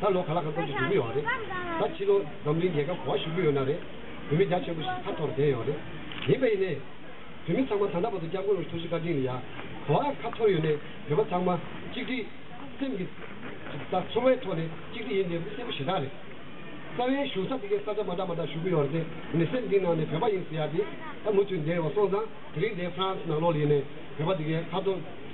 ད་ལོ་ག་ལ་ག་སྐོར་གྱི་འགྲིག་གི་ཡོད་རེད། ད་ཕྱི་ལོ་འཛམ་གླིང་རྒྱལ་ཁབ་གོ་བ་ཞུགས་ཀྱི་ཡོད་ན་རེད། བོད་མི་རྒྱ་ཆེན་པོ་ཞིག་ཁ་འཐོར་བསྡད་ཡོད་རེད། ཡིན་པ་ཡིན་ནས། བོད་མི་ཚང་མ་ད་ལྟ་བར་དུ་སྐྱབས་མགོན་ལོ་ཐུགས་རྗེ་བཀའ་དྲིན་ལ་ཡ། གོ་བ་ཁ་འཐོར་ཡོད་ནས་བོད་པ་ཚང་མ་གཅིག་སྒྲིལ། སེམས་ཀྱི། ད་ཚོར་བའི་ཐོག་ནས་གཅིག་སྒྲིལ་ཡིན་དེ་སྲས་པོ་ཞེ་དྲག་རེད། རྩ་བའི་བཞུགས་ས་དེ་གའི་ས་ཆ་མ་འདྲ་མ་འདྲ་བཞུགས་ཀྱི་ཡོད་རེད་དེ་མི་སེར་འདིའི་ནང་ནས་བོད་པ་ཡིན་ཟེར་ཡ་དེ། ད་མུ་མཐུད་འདས་ཡོད་སོང་ཙང་དེ་རིང་འདས་ཧྥ་རན་སི་ནང་ལོགས་ལེན་ནས་བོད་པ་དེ་གའི་ཁ་ཐོར།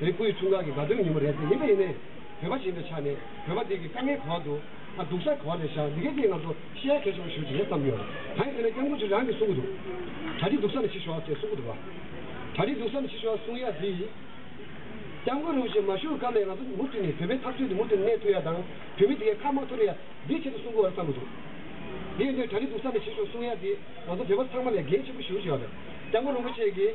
རིགས་པའི་མཚོ་འགག་གི་དགའ་སྟོན་ཉིན་མོ་རེད་ཟེར་ཡིན་པ་ཡིན་ནའི། བོད་པ་ཞིག་ཡིན་པའི་ཆ་ནས་བོད་པ་དེ་གི་དཀའ་ངལ་གོ་བ་འདུག་ཨ་སྡུག་ས་གོ་བ་ལས་བཞག་འདི་གའི་སྐད་ང་ཚོ་ཤེས་ཡ་གལ་ཆེན་པོ་ཞུ་རྒྱུ་རེད་བསམ་ཡོད། གང་ཡིན་ཟེར་ན་སྐྱབས་མགོན་ཆོས་རང་གིས་གསུང་གི་འདུག་གྲ་སྒྲིག་སྡུག་ས་ནས་བྱེད་ཤོག་ཅེས་གསུང་གི་འདུག་ག་གྲ་སྒྲིག་སྡུག་ས་ནས་བྱེད་ཤོག་གསུང་ཡ་དེ་ཡིན། སྐྱབས་མགོན་རིན་པོ་ཆེས་མ་ཞུ་སྐབས་ལས་ང་ཚོ་མུ་མཐུད་ནས་བོད་པའི་འཐབ་རྩོད་འདི་མུ་མཐུད་གནས་ཐུབ་ཡ་དང་བོད་མི་དེ་གའི་ཁ་དམག་ཐོར་ཡ་འདིའི་ཆེད་དུ་གསུང་གི་འོ་རེད་བསམ་གི་འདུག་དེ་ཡིན་དུས་གྲ་སྒྲིག་སྡུག་ས་ནས་བྱེད་ཤོག་གསུང་ཡ་དེ་ང་ཚོ་བོད་པ་ཚང་མ་ལས་འགན་ཆེན་པོ་ཞུ་བྱས་པ་རེད་སྐྱབས་མགོན་རིན་པོ་ཆེ་གིས།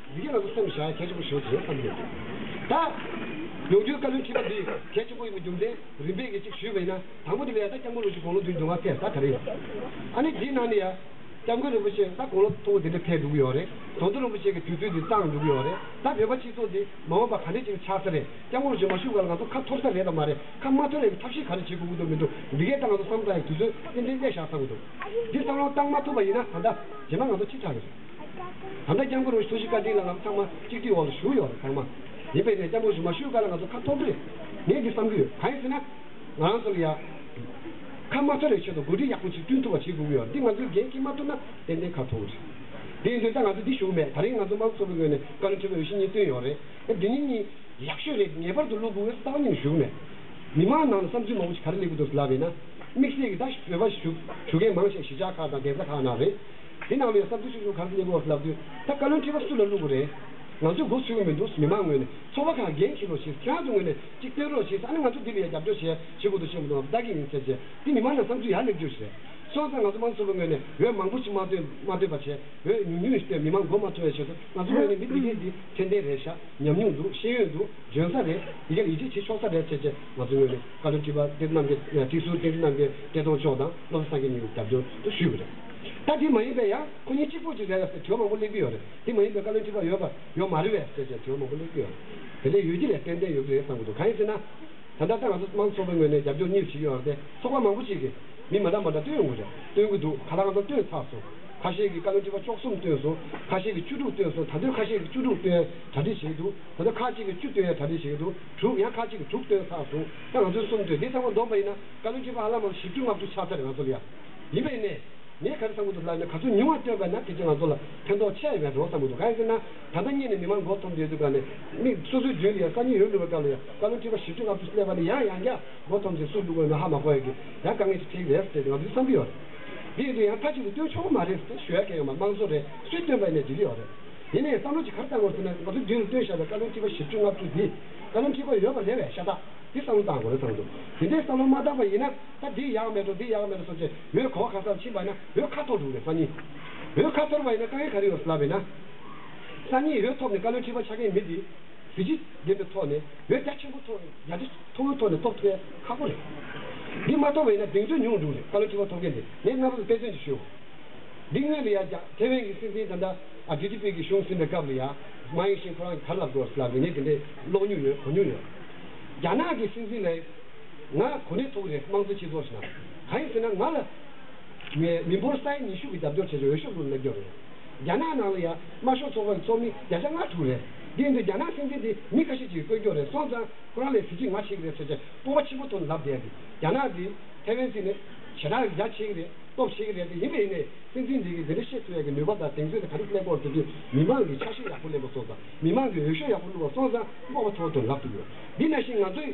འདི་ག་ལ་སོགས་སུ་བྱ་གལ་ཆེན་པོ་བྱུང་ཞེས་བསམ་ཡོད། ད། ཡོང་རྒྱུའི་བཀའ་བློན་ཁྲི་པ་འདིས་གལ་ཆེན་པོ་ཡིན་པའི་རྒྱུ་མཚན་རིམ་པས་གཅིག་ཞུས་པ་ཡིན་ན་དང་པོ་འདི་ལས་ད་སྐྱབས་མགོན་ལོ་ཆུ་དགུང་ལོ་བདུན་འབྱུང་བ་ཚད་ད་ག་རེ་ཡོད། ཨ་ནི་དེའི་ནང་ནས་ཡ། སྐྱབས་མགོན་རིན་པོ་ཆེས་ད་དགུང་ལོ་མཐོ་པོ་འདི་འདྲ་འཕེལ་འགྲོ་གི་ཡོད་རེད་དོན་དུ་རིན་པོ་ཆེ་གི་དུས་ཚོད་འདི་གཙང་འགྲོ་གི་ཡོད་རེད་ད་བོད་པ་སྤྱི་ཚོགས་འདི་མ་འོངས་པ་ག་འདྲས་ཅིག་ཆགས་ས་རེད་སྐྱབས་མགོན་ལོ་ཆུ་མ་བཞུགས་སྐབས་ལ་ང་ཚོ་ཁ་འཐོར་ས་རེད་དང་མ་རེད་ཁ་མ་འཐོར་ཡང་ཐབས་ཤེས་ག་རེ་བྱེད་དགོས་ཀྱི་འདུག་མི་འདུག་འདི་གས་ད་ང་ཚོ་བསམ་བཏང་ཡང་དུས་ཚོད་ཏན་ཏན་གནས་བཞག་བསམ་གྱི་འདུག་འདི་བསམ་བློ་བཏང་མ་ཐུབ་པ་ཡིན་ན་ད་ལྟ་བྱས་ན་ང་ཚོ་ཁྲི་ཕྲག་གི་རེད། ད་ལྟ་སྐྱབས་མགོན་རུ་ཤི་སུ་ཤི་བཀའ་དྲིན་ལ་ལམ་ཚང་མ་གཅིག་སྒྲིལ་འོག་ལ་བཞུགས་ཡོད་རེད་ཚང་མ། ཡིན་པས་ནས་སྐྱབས་མགོན་ཞུ་མ་ཞུ་ག་ལ་ང་ཚོ་ཁ་ཐོག་དྲོད། ངས་འདི་བསམ་གྱི་ཡོད་གང་ཡིན་ཟེར་ན། ང་རང་ཚོ་ལ་ཡ། ཁ་དམར་ཐོན་རེའི་ཆེད་དུ་འགོ་ཁྲིད་ཡག་པོ་ཞིག་བསྐྲུན་ཐུབ་པ་བྱེད་དགོས་ཀྱི་ཡོད་འདི་ང་ཚོའི་འགན་ཁྱེད་མ་ཐུབ་ན་ཏན་ཏན་ཁ་ཐོག་རེད། དེ་ཡིན་དུས་ད་ང་ཚོ་འདི་བཞུགས་མེད་ད་རིང་ང་ཚོ་དམག་ཚོགས་ཀྱི་ངོས་ནས་བཀའ་བློན་ཁྲི་པ་རུ་ཤི་གཉིས་བཏོན་ཡོད་རེད་ཨ་དེ་གཉིས་གཉིས། ཡག་ཤོས་རེད་ངེས་པར་དུ་བློ་བུར་བས་ས་བ་གཉིས་ནས་བཞུགས་མེད། མི་མང་ནང་ལ་བསམ་ཚུལ་མང་པོ་ཞིག་ག་རེ་ལེགས་པོ་འདུག་ཟེར་ལབ་ཡིན་ན། དམིགས་བསལ་གྱི་ད་བཞུགས་བོད་པ་བཞུགས་མཁན་མང་ཆེ་བ་གཞིས་ཆགས་ཁག་དང་གདན་ས་ཁག་ནང་རེད། འདི་ནང་ནས་གསར་འགྱུར་ཆུང་ཆུང་གང་རྙེད་ལོ་ལབ་དུས་ད་བཀའ་བློན་ཁྲི་པ་སུ་ལ་བླུག་གི་རེད། ང་ཚོས་སྒུག་ཚུལ་མི་འདུག་མི་མང་ངོས་ནས་ཚོགས་པ་གང་འགན་འཁྱེར་རོགས་ཞེས་ཟེར་ང་ཚོ་ངོས་ནས་གཅིག་བསྟན་རོགས་ཞེས་ཟེར་ཨ་ནི་ང་ཚོ་འདི་ལ་ཡ་རྒྱབ་སྐྱོར་བྱས་ཞེས་སྒུག་ཏུ་ཕྱིན་པ་དང་བདག་གི་ཡིན་ཟེར་རྗེས་འདི་མི་མང་ནང་བསམ་ཚུལ་ཡར་སླེབས་རྒྱུ་རེད། སོང་ཙང་ང་ཚོ་དམངས་གཙོ་པ་ངོས་ནས་འོས་མང་པོ་ཞིག་མ་བཏོན་མ་བཏོན་པ་བྱས་འོས་ཉུང་ཉུང་ཞིག་བཏོན་མི་མང་མགོ་མ་ཚོ་བའི་ཆེད་དུ་ང་ཚོ་ངོས་ནས་མི་འདི་གེ་འདི་ཚད་ལྡན་རེད་ཤག་ཉམས་མྱོང་འདུག་ཤེས་ཡོན་འདུག་འཇོན་ས་རེད་འདི་གེ་ལ་ཡིད་ཆེས་བྱེད་ཆོག་ས་རེད་ཟེར་རྗེས་ང་ཚོ་ངོས་ནས་བཀའ་བློན་ཁྲི་པ་བསྟན་རྣམ་རྒྱལ་བཀྲིས་ཟུར་བསྟན་རྣམ་རྒྱལ་བཀྲས་མཐོང་མཆོག་དང་བློ་བཟང་སངས་རྒྱས་གཉིས་ལ་རྒྱབ་སྐྱོར་དུ་ཞུས་ཀྱི་རེད། བཀའ་ཁྲི་མ་ཡིན་པའི་ཡང་ཁོ་གཉིས་གཅིག་པོ་ཅིག་རེད་ལ་ཟེར་དྲི་བ་མང་པོ་གླེང་གི་ཡོད་རེད་དེ་མ་ཡིན་པའི་བཀའ་བློན་ཁྲི་པ་ཡོད་པ་ཡོད་མ་རེད་བས་ཟེར་བཅས་དྲི་བ་མང་པོ་གླེང་གི་ཡོད་རེད་དེ་ལས་ཡོད་ཀྱི་ལས་ཏན་ཏན་ཡོད་ཀྱི་རེད་བསམ་གྱི་འདུག་གང་ཡིན་ཟེར་ན། ད་ལྟ་ད་ང་ཚོ་དམངས་ཚོགས་པའི་ངོས་ནས་རྒྱབ་སྐྱོར་གཉིས་བྱེད་ཀྱི་ཡོད་རེད་དེ་ཚོགས་པ་མང་པོ་ཅིག་གིས་མི་མ་འདྲ་མ་འདྲ་བཏོན་ཡོང་གི་རེད་བཏོན་གྱི་འདུག་ག་ལ་ང་ཚོ་བཏོན་ཚར་སོང་ཁ་ཤས་ཀྱིས་བཀའ་བློན་ཁྲི་པ་བཅུ་གསུམ་བཏོན་སོང་ཁ་ཤས་ཀྱིས་བཅུ་དྲུག་བཏོན་སོང་ད་དུས་ཁ་ཤས་ཀྱིས་བཅུ་དྲུག་བཏོན་ཡང་གྲ་སྒྲིག་བྱེད་ཀྱི་འདུག་ད་དུས་ཁ་ཅིག་གིས་བཅུ་བཏོན་ཡང་གྲ་སྒྲིག་བྱེད་ཀྱི་འདུག་དྲུག་ཡང་ཁ་ཅིག་གིས་དྲུག་བཏོན་ཚར་སོང་ད་ང་ཚོས་གསུམ་བཏོན་དེ་ཚང་མ་བསྡོམས་པ་ཡིན་ན་བཀའ་བློན་ཁྲི་པ་ཨ་ལ་མང་བཞི་བཅུ་ལྔ་བཅུ་ཆགས་ཚར་རེད་ང་ཚོ་ལ་ཡ། ཡིན་པས་ནས། ངས་ག་རེ་བསམ་གྱི་འདུག་ལར་ནས་ག་ཚོད་ཉུང་བ་སྟོན་པ་ན་དེ་ཚོས་ང་ཚོ་ལ་ཕན་ཐོགས་ཆེ་ཡོད་པའི་རེ་བ་བསམ་གྱི་འདུག་ག་ཡིན་ཟེར་ན། ད་ལྟ་གཉིད་ནས་མི་མང་མགོ་འཐོམ་དུ་ཡོད་དུས་ཀ་ནས། མིག་སོ་སོའི་མདུན་དུ་ཡང་ས་ཉིལ་ཡོང་ནུས་པའི་སྐབས་ལ་ཡང་བཀའ་བློན་ཁྲི་པ་བཞི་བཅུ་ལྔ་བཅུ་སུ་བསླེབས་པ་ནི་ཡང་ཡང་བསྐྱར་མགོ་འཐོམ་ཞིང་སུས་བསླུ་དགོས་མིན་ཧ་མ་གོ་ཡ་གི། ཡང་དཀའ་ངལ་ཞིག་འཕྲད་ཀྱི་རེད་ཟེར་ཏེ་ང་ཚོ་ཚོས་བསམ་གྱི་ཡོད་རེད། དེ་ཡིན་དུས་ཡང་མཐའ་གཅིག་ཏུ་སྟོན་ཆོག་གི་མ་རེད་ཟེར་ཏེ་ཞུ་ཡ་མཁན་ཡང་མ་དམངས་གཙོ་རེད་ཅེས་སྟོན་པ་ནས་འགྲིག་གི་ཡོད་རེད། དེ་ནས་བསམ་བློ་ཅིག་གར་བཏང་དགོས་ཟེར་ན་ང་ཚོའི་མདུན་དུ་སྟོན་བཞག་པའི་བཀའ་བློན་ཁྲི་པ་བཞི་བཅུ་ལྔ་བཅུ་འདིས་བཀའ་བློན་ཁྲི་པ་ཡོད་པ་རེད་བས་ཤ་སྟག་གིས་བསམ་བློ་བཏང་དགོས་རེད་བསམ་གྱི་འདུག་དེ་འདྲའི་བསམ་བློ་མ་བཏང་པ་ཡིན་ན། སྐབས་འདིའི་ཡག་མེད་དང་འདིའི་ཡག་མེད་ལ་སོགས་ཚེ་འོད་གོ་ཁ་སར་ཕྱིན་པ་ན་འོད་ཁ་ཐོར་འདུག་ནས་སང་ཉིན་འོད་ཁ་ཐོར་བ་ཡིན་ན་དཀའ་ངལ་ག་རེ་ཡོང་སྲིད་ལབ་པས་ན། སང་ཉིན་འོད་ཐོབ་ནས་བཀའ་བློན་ཁྲི་པ་ཆགས་མཁན་མི་དེ་གཟི་བརྗིད་ལྡན་པའི་ཐོག་ནས་འོད་རྒྱ་ཆེན་པོ་ཐོབ་རྒྱ་ཆེ་མཐོ་བོའི་ཐོག་ནས་ཐོབ་ཐུབ་པས་ཁག་པོ་རེད། འདི་མ་ཐོབ་བས་ན་གདེང་ཚོད་ཉུང་འདུག་ནས་བཀའ་བློན་ཁྲི་པ་ཐོབ་མཁན་དེ་ངས་སྔ་རོལ་དཔེ་མཚོན་གྱིས་ཞུའོ། འདི་དངོས་ལ་ཡང་རྒྱ་ཐེ་ཝན་གྱི་སྲིད་འཛིན་ད་ལྟ་ཨ་བྲི་ཏི་པི་གྱི་གཞུང་ཟིན་པའི་སྐབས་ལ་ཡང་མ་ཡིན་ཕྱིན་ཁོ་རང་གིས་ག་རེ་ལབ་དགོས་བ་སི་ལབ་ངས་དེ་འདྲའི་ཀློག་མྱུར་ཡོད་གོ་མྱུར་ཡོད། རྒྱ་ནག་གི་སྲིད་འཛིན་ལ་ཡང། ང་གོ་གནས་ཐུག་རེད་དམངས་གཙོ་སྤྱི་ཚོགས་ཞེས་ན་གང་ཡིན་ཟེར་ན་ང་ལ། ངའི་མི་འབོར་ས་ཡ་ཉི་ཤུ་གི་རྒྱབ་སྐྱོར་བྱེད་ཆོག་འོས་ཤོག་བླུག་ན་སྐྱོར་རེད། རྒྱ་ནག་ནང་ལ་ཡང་དམར་ཤོག་ཚོགས་པ་གི་ཚོགས་མི་བརྒྱ་ཆ་ལྔ་དྲུག་རེད། དེ་ཡིན་དུས་རྒྱ་ནག་སྲིད་འཛིན་དེ་མི་ཁ་ཤས་ཀྱི་བཀོད་འགྱོག་རེད་སོང་ཙང་ཁོ་རང་ལས་གཟི་བརྗིད་ང་ཆེ་གི་རེད་ཟེར་ཆ་སྤོབས་པ་ཆེན་པོ་ཐོན་ལབ་བསྡད་དེ་རྒྱ་ནག་དེ་ཐེ་ཝན་སྲིད་ནས་ཞེ་དྲག་རྒྱ་ཆེ་གི་རེད་སྟོབས་ཆེ་གི་རེད་དེ་ཡིན་པས་ཡིན་ནའི་སྲིད་འཛིན་དེ་གི་དེ་འདྲ་བཤད་ཚུལ་ཡག་གི་ནུས་པ་དང་གདེང་ཚོད་དེ་ག་རེ་གླེགས་བོར་དེ་དུས་མི་མང་གི་ཆ་ཤས་ཡག་པོ་གླེང་བ་སོང་ཙང་མི་མང་གི་འོས་ཤོག་ཡག་པོ་བླུག་བ་སོང་ཙང་སྤོབས་པ་ཐོ་བ་ཐོན་ལབ་ཐུབ་ཡོད་འདི་ན་བཞིན་ང་ཚོའི།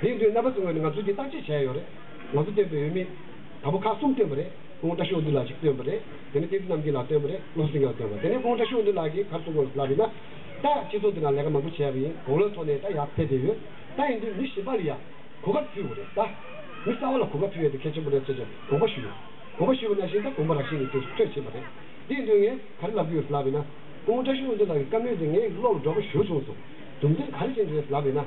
དེའི་དོན་རྣམ་པ་ཚོའི་ངོས་ནས་ང་ཚོས་འདི་བརྟག་དཔྱད་བྱས་ཡོད་རེད། ང་ཚོ་བཏོན་པའི་འོས་མི། དང་པོ་ཁག་གསུམ་བཏོན་པ་རེད། ཁོང་བཀྲ་ཤོག་འདུས་ལགས་གཅིག་བཏོན་པ་རེད། དེ་ནས་བསྟན་འཛིན་རྣམ་རྒྱལ་ལགས་བཏོན་པ་རེད། བློ་བཟང་སེང་གེ་ལགས་བཏོན་པ། དེ་ནས་ཁོང་བཀྲ་ཤོག་འདུས་ལགས་ཀྱིས་གར་སོང་གོ་ལབ་ཡིན་ན། ད། སྤྱི་ཚོགས་འདི་ན་ལས་ཀ་མང་པོ་བྱས་པ་ཡིན། གོང་བློའི་ཐོག་ནས་ད་ཡག་ཕེབས་བསྡད་ཡོད། ད་ཡིན་དུས་མི་ཞིབ་པ་ལ་ཡང། གོ་སྐབས་ཕུལ་བ་རེད་ད། མི་གསར་བ་ལ་གོ་སྐབས་ཕུལ་ཡོད་དེ་གལ་ཆེན་པོ་རེད་ཟེར་ཅིང་དགོངས་པ་ཞུས་ཡོད། དགོངས་པ་ཞུས་པ་ནང་བཞིན་ད་དགོངས་པ་རགས་ཤིང་གི་དུས་སུ་ཐོན་ཕྱིན་པ་རེད། དེའི་དོན་ངས་གར་ལབ་ཀྱི་ཡོད་ལབ་ཡིན་ན། ཁོང་བཀྲ་ཤོག་འདུས་ལགས་ཀྱི་བཀའ་མོལ་དེ་ངའི་བློར་འགྲོ་པ་ཞུ་བྱུང་སོང། དུམ་ཚིགས་ག་རེ་བྱེད་འདོད་ཡོད་ལབ་ཡིན་ན།